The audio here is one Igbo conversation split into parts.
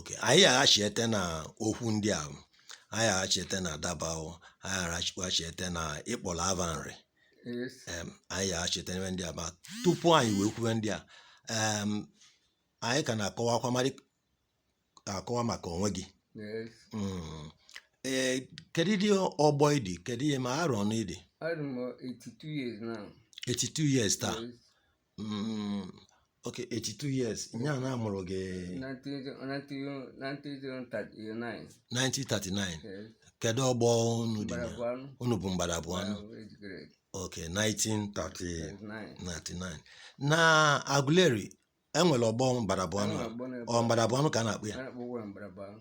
Okay, anyị aghachiete na okwu ndị a anyị aghachiete na Dabawo anyị aghachiete na ị kpọrọ ava Nri Yes. em, anyị aghachiete n'ebe ndị a ma tupu anyị wee kwube ndị a em, anyị ka na-akọwakwa mari akọwa maka onwe gị Yes. Mm. ee kedu ọgbọ ị dị kedu ihe ma arọ one ị dị I'm 82 years now. 82 years taa Yes. Mm, ok 82 years nya na amụrụ gị 1939 1939 ee, kedu ọgbọ unu dị Mgbada bụ anụ unu bụ Mgbada bụ anụ ahụ ejikere ok 1939 39 na Aguleri e nwere ọgbọ Mgbada bụ anụ Ọgbọ na-ebu- ọ Mgbada bụ anụ ka a na-akpọ ya a na-akpọ ọgbọ Mgbada bụ anụ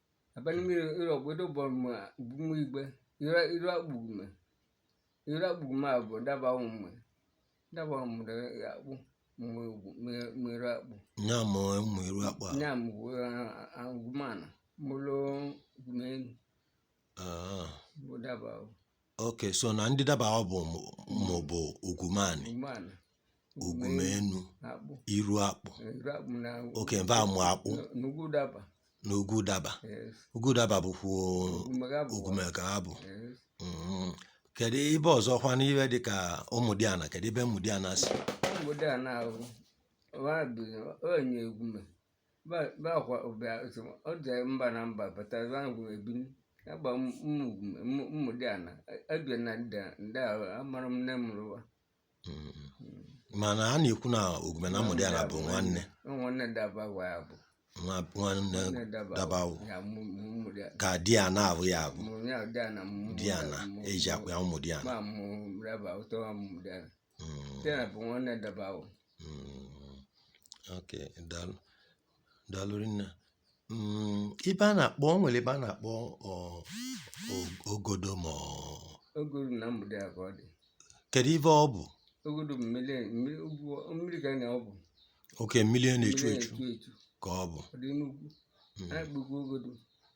abanimiri iro gwedo bọrọma gbugmu igbe ira ira gbugme ira gbugme abụ daba ụmụ daba ụmụ da akpụ mwe mwere akpụ nya ma ụmụ eru akpa nya mgbe agụmana mụlụ gumenu Ah, bụ daba ahụ okay so na ndị Dabawo mụ- mụ bụ Ugumanị Ugumana. Ugumenu Akpụ. iru akpụ Eh, iru akpụ na okay mba amụ akpụ na- na ugwu daba. na ugwu daba Yes. ugwu daba bụkwa Ugume ka ọ bụ. Ugume ka ọ bụ Yes. Mhm. kedu ibe ọzọ kwa n'ibe dịka Ụmụdịana kedu ibe Ụmụdịana si Ụmụdịana ahụ. Ọ bụ onye Ugume. bakwa ụbịa ọ dị mba na mba bataza ngwụ ebi agba Ụmụdịana ebie na ndị ndị a amarọ m nne mụrụ wa mana a na-ekwu na Ugume na Ụmụdịana bụ nwanne nwanne Dabawo ya bụ nwa nwanne nwanne daba Dabawo ya mụ mụ dị ka Dịana bụ ya bụ Dịana mụ Dịana e ji akpọ ya Ụmụdịana ma mụ raba ụtọ Ụmụdịana Mm. Dịana bụ nwanne Dabawo. Mm. ok daalụ daalụ rinne Mm, ibe a na-akpọ o nwere ebe a na-akpọ ọ, o- ogodo ma ọ- Ogodo na Mgbede a ka ọ dị. kedu ibe ọ bụ Ogodo bụ mmiri mmiri ugwu mmiri ka na ọ bụ. okay mmiri a na-echu Mmiri echu na-echu echu. ka ọ bụ Ọ dị n'ugwu. Mm. A na-akpọkwa Ogodo.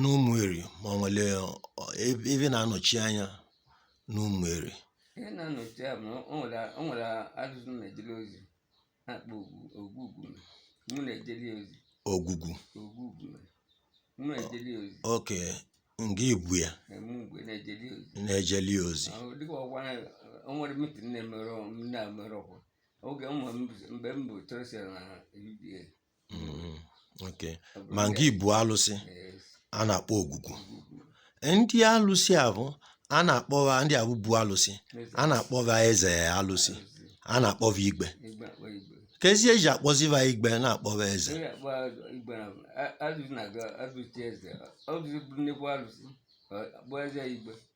n'Ụmụeri ma o nwere ebe na-anọchi anya n'Ụmụeri ihe na-anọchi anya bụ na o nwere o nwere alụsị m na-ejere ozi a na-akpọ Ogwugwu Ugume mụ na-ejere ya ozi Ogwugwu Ugume mụ na-ejere ya ozi okay ngị bụ ya eme ugwe na-ejere ya ozi na-ejeli ya ozi Ahụ dịka ọ kwa na o nwere mitin na-emere m na-emere ọkwa oge ụmụ m bụ- mgbe m bụ treasurer na UGA Mm, okay. ma ngị ị bụ alụsị Yes. a na-akpọ ogwugwu ndị alụsị a bụ a na-akpọba ndị a bụ bu alụsị a na-akpọba eze alụsị a na-akpọba igwe Igwe a kpọ igwe. kezi e ji akpọziba igwe na-akpọba eze Onye akpọ igwe na a- alụsị na-aga alụsị eze. Ọ bụzi bụ nnekwu alụsị. Ọ akpọ eze igwe.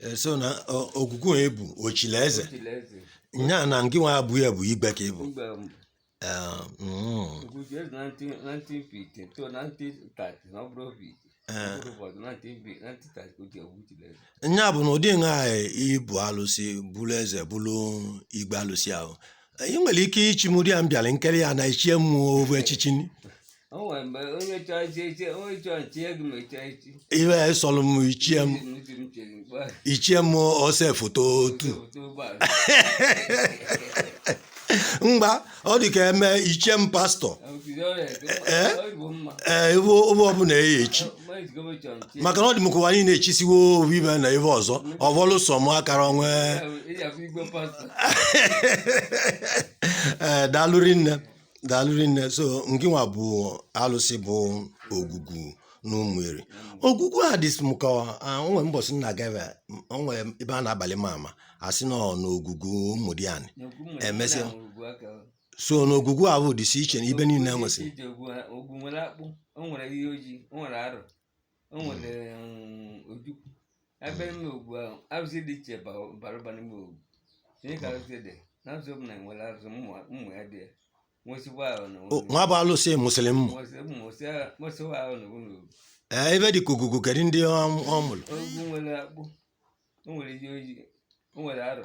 Eh, so na ọ- ogwugwu onye bụ ochile eze Ochile eze. nya na ngị nwa abụ ya bụ igwe ka ị bụ Igwe m. Eh, mm, Ogwu chi eze 19 1950 to 1930 na ọ bụrụ obi. Ọ bụrụ ụbọchị 1950 1930 ka o ji ogwu chile eze. nya bụ na ụdị nha ị bụ alụsị bụrụ eze bụrụ igwe alụsị ahụ anyị nwere ike ichi m ụdị a m bịara nkere ya na e chie m ovu echichi ni. o nwere mgbe onye chọọ ichi echi onye chọọ nchi ego ma echi echi ive a sọrọ m e chie m ntị m chere mkpa e chie m ose foto otu otu ụgbọala mgbe ọ dị ka eme e chie m pastọ obido ọrịa Ee? ọ bụ mma ee ive ọbụla eyi echi maka na ọ dị m ka ụwa niile echisiwo ovu ibe na ebe ọzọ ọ bụrụ sọ m akara onwe ee daalụ rinne daalụ rinne so ngị nwa bụ alụsị bụ ogwugwu na Ụmụeri ogwugwu a dị m ka o nwe mbọsị m na-aga ebe o nwe ebe a na-agbalị m ama a sị na ọ na ogwugwu Ụmụdiani emesịa so n'ogwugwu ahụ dịsi iche na ibe niile e nwesịrị Ị je ogwu ha- ogwu nwere akpụ o nwere Iyi Ojii o nwere arọ o nwere mm, ojukwu ebe ime ogwu ahụ arụsị dị iche ba- bara ụba n'ime ogwu ihe ka arụsị dị na arụsị ọbụla nwere arụsị ụmụ ụmụ ya dị ya nwesịkwa ahụ na O, nwa bụ alụsị mụsịrị mmụ nwesịkwa ahụ na ụlọ ogwu ee ebe dị ka ogwugwu kedu ndị ọ ọ mụrụ ogwu nwere akpụ o nwere Iyi Ojii o nwere arọ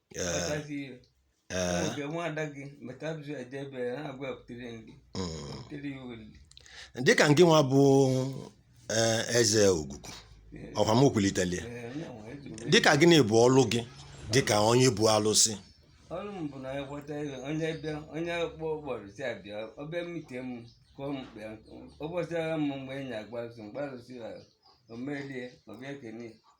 dịka ngị nwa bụ eze ogwugwu ọkwa m kwulitere ya dịka gịnị bụ ọlụ gị dịka onye bụ alụsị ọrụ m bụ na ya kweta ego onye bịa onye kpọ ụbọchị si abịa ọ bịa mite m kọọ mkpa ya ụbọchị agha m mgbe enyi agbazi mgbalụsi ya o melie ọ bịa kene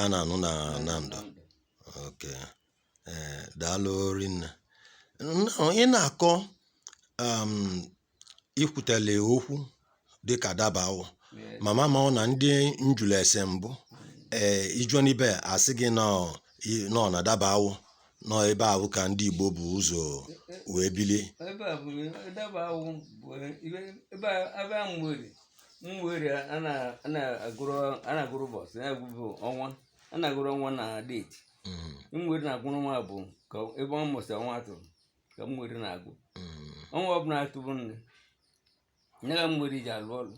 A na-anụ na Nando. Ok. Ee, daalụ rinne. Nnọọ, ị na-akọ um, i kwutele okwu dịka Dabawọ. M ama ma ọ na ndị m jụrụ ese mbụ ee ị jụọ n'ibe a sị gị na ọ i- na ọ na Dabawọ na ọ ebe ahụ ka ndị Igbo bụ ụzọ wee bilie. ebe a bụ Dabawọ bụ ibe- ebe a- ebe a nwere Ụmụeri ana-agụrụ ana-agụrụ ụbọchị na-agụbụ ọnwa ana-agụrụ ọnwa na deeti Ụmụeri na-agụrụ ọnwa bụ ka ebe ọ mụsị ọnwa atụ ka Ụmụeri na-agụ ọnwa ọbụla atụbụ nne ya ka Ụmụeri ji alụ ọlụ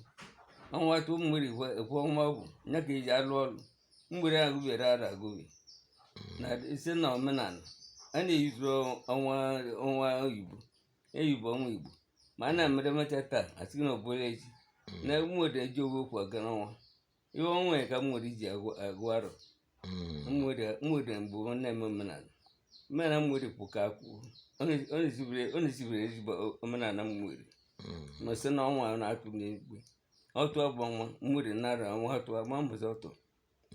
ọnwa atụ Ụmụeri ekwe ọnwa ọ bụ ya ka eji alụ ọlụ Ụmụeri agụbere arọ agụbe na site na omenala a na-eyizuru ọnwa ọnwa oyibo eyigbo ọnwa igbo ma a na-emere emecha taa asị na ọ bụla echi na Ụmụeri eji owe okwu aga n'ọnwa ihe ọnwa ya ka Ụmụeri ji agụ arọ Ụmụeri mgbe ọ na-eme omenala omenala Ụmụeri bụ ka akwụkwọ ọ na-esibere ezigbo omenala Ụmụeri ma sị na ọnwa na-atụ n'igwe ọtụ abụ ọnwa Ụmụeri nara ọnwa atụ agba mbọsị ọtụ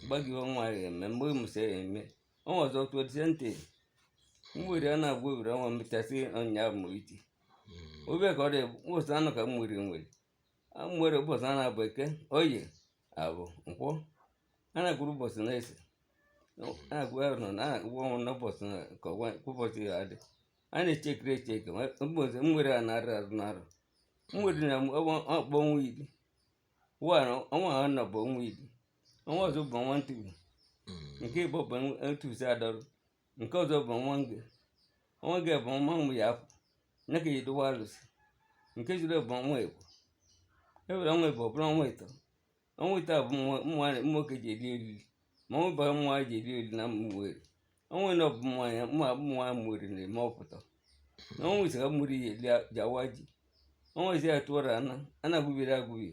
gbaghị ọnwa ya eme mgbe mụsa ya eme ọnwa ọzọ tụọ dịse ntị Ụmụeri a na-agụ owere ọnwa mechasị ụnyaahụ mụrụ iti obe ka ọ dị ụbọchị anọ ka Ụmụeri nwere Ụmụeri ụbọchị a na-abụ eke oye afọ nkwọ a na-agụrụ ụbọchị na-ese a na-agụ ahụ nọ na ụgwọ ọnwa n'ụbọchị na ka ọgwa ụbọchị ya adị a na-echekiri echeke ụbọchị Ụmụeri a na-arụ arụ n'arọ Ụmụeri na-akpọ ọnwa iri were ọnwa ha nọ bụ ọnwa iri ọnwa ọzọ bụ ọnwa ntụgbu nke ịbọ bụ ntụzi adọrụ nke ọzọ bụ ọnwa nge ọnwa nge bụ ọnwa mgbe ya afọ nne ya ka eji edowa alụsị nke jiri bụ ọnwa ịbọ e were ọnwa ịbọ bụrụ ọnwa ịtọ ọnwa ịtọ bụ nwoke ji eri oriri ma ọnwa bara nwa ji eri oriri na Ụmụeri ọnwa anọ bụ mmanya mụ abụ mmanya Ụmụeri na-eme ọpụta na ọnwa ise ka Ụmụeri ji awa ji ọnwa ise atụọrọ ana ana agụbiri agụbi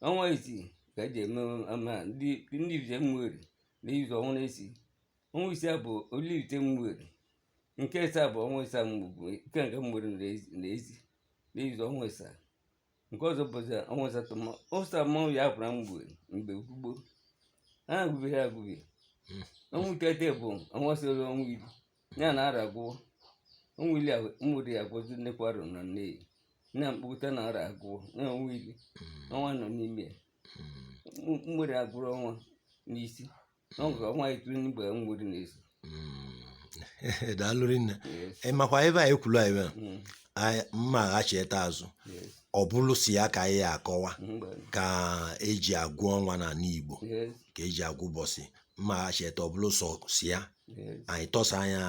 ọnwa isii ka eji eme ama ndị ndị Ivite Ụmụeri na izu ọnwa na-esi ọnwa isii abụ oli Ivite Ụmụeri nke ịsa bụ ọnwa ịsa mgbe nke nke Ụmụeri na-ezi na izu ọnwa ịsa nke ọzọ bụzi ọnwa asatọ ma ụsa mmanwụ ya apụra mgbe mgbe gboo gboo ha agụbi ha agụbi hmm. ọnwa itete bụ ọnwa soro ọnwa iri ya na arọ agwụwo ọnwa iri Ụmụeri agụzi nnekwu arọ na Nneyi na mkpụta na arọ agwụwo na ọnwa iri hmm. ọnwa nọ n'ime ya Ụmụeri hmm. agụrụ ọnwa n'isi daalụ rinne ịmakwa ebe a ekwulu anyị mm. ma aghachite azụ ọ bụrụ si ya ka anyị akọwa ka eji agụ ọnwa na Igbo ka eji agụ ụbọchị ma aghachite ọ bụrụ sọ si ya anyị tọsa ya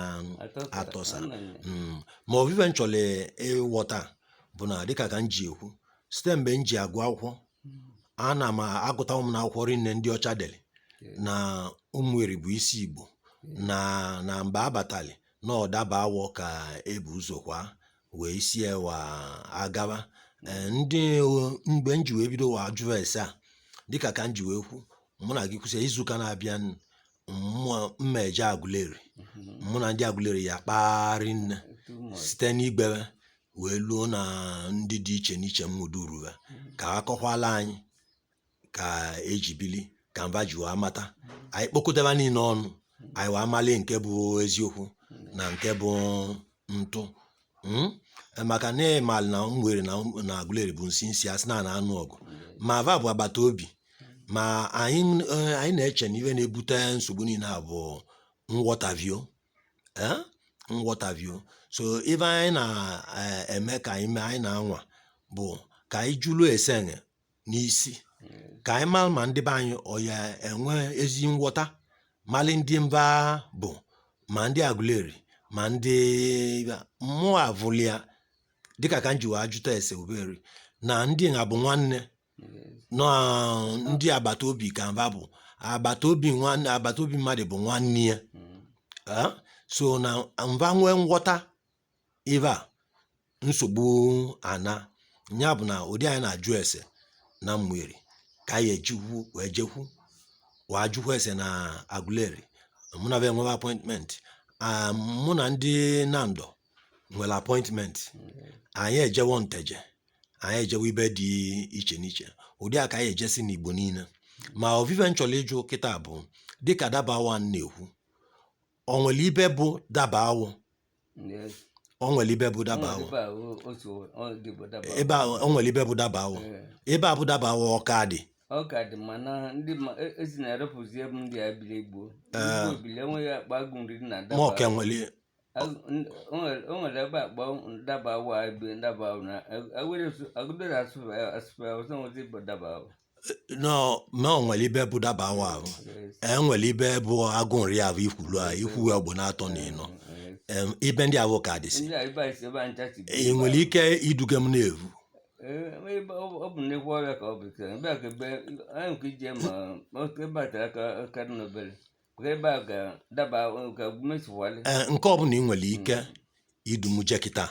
atọsa mm. ma ovu ive m chọrọ ịghọta bụ na dịka ka m ji ekwu site mgbe m ji agụ akwụkwọ ana m agụta ụmụ na akwụkwọ rinne ndị ọcha dere na ụmụeri bụ isi igbo na na mgbe a batali na ọ dabawọ ka ebu ụzọ kwa wee si ewa agaba Ee, ndị o- mgbe m ji wee bidowa ajụ ese a dịka ka m ji wee kwu mụ na gị kwụsị izuụka na-abịa n- mma eje agụleri mụ na ndị agụleri ya-akpa rinne site n'igwe ve wee luo na ndị dị iche n'iche m mụduru ha ka a kọkwala anyị ka eji bili ka mva ji wee mata anyị kpokọtaba niile ọnụ anyị wee amali nke bụ eziokwu na nke bụ ntụ Mm? maka na ịmalị na ụmụeri na agụleri bụ nsi nsi a sị na a na-anụ ọgụ ma va bụ agbata obi ma anyị eh, anyị na-eche na ive na-ebute nsogbu niile a bụ nghọtavio eh, nghọtavio so ive anyị na-eme eh, ka anyị mee anyị na-anwa bụ ka anyị jụlụ ese n'isi ka anyị mara ma ndị be anyị ọ ya-enwe ezi nghọta mali ndị mva bụ ma ndị agụleri ma ndị mụ avụlia dịka ka m ji wee jụta ese ụmụeri na ndị na bụ nwanne na ndị agbata obi ka mva bụ agbata obi nwanne agbata obi mmadụ bụ nwanne ya Ah, so na mva nwee nghọta ive a nsogbu ana ya bụ na ụdị anyị na-ajụ ese na ụmụeri ka anyị ejikwu wee jekwu wee ajụkwa ese na agụleri mụ na ve enwebe appointment mụ na ndị nando nwere appointment anyị ejewo nteje anyị ejewo ibe dị iche n'iche ụdị a ka anyị ejesi n'igbo niile ma ovu ive m chọrọ ịjụ kịta bụ dịka dabawọ m na-ekwu o nwere ibe bụ dabawọ Yes. o nwere ibe bụ dabawọ Ebe a, o- otu ọ dị bụ daba. ebe a o nwere ibe bụ dabawọ Ee. ebe a bụ dabawọ ọ ka dị ọ ka dị ma na ndị ma e- esi na-erepụzi ebe ndị a biri gboo ndị gboo bili enweghị akpa agụ nri na ma daba ọ ka nwere o nwere ebe a kpọ dabawọ ebe ndaba na agụleri asụsụ ọzọ nwezi bụ dabawọ no no o nwere ibe bụ dabawọ ahụ e nwere ibe bụ agụ nri ahụ ikwulu a ikwu ya bụ n'atọ na ịnọ Em, ibe ndị ahụ ka dịsị ndị a ibe anyị si ebe anyị tachi ị nwere ike iduga m na-evu ọ bụ nnekwu ọvịa ka ọ bụ ike ebe a ka ebe anyị nke ije ma oke ebe a tere aka aka dị n'obere nke ọbụla i nwere ike idu mụ je kịta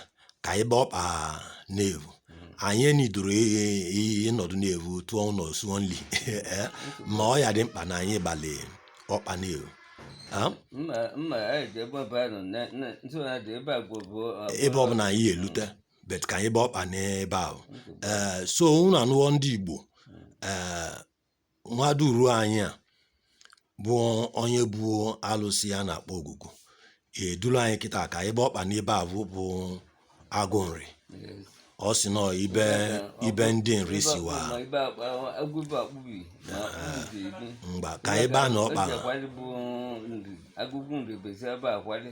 ka anyị gbaa ọkpa n'evu anyị enidoro ịnọdụ n'evu tụọ ụlọ suo nri ma ọ ya dị mkpa na anyị gbalị ọkpa n'evu ebe ọbụla anyị elute bet ka anyị gbaa ọkpa n'ebe ahụ ee so unu anụwo ndị Igbo ee nwa duru anyị a bụ onye bụ alụsị a na-akpọ ogwugwu eduru anyị kịta ka anyị gbaa ọkpa n'ebe ahụ bụ agụ nri ọ sị nọ ibe ibe ndị nri siwa mgba ka anyị baa na ọkpa agụkwu nri bezi ebe akwali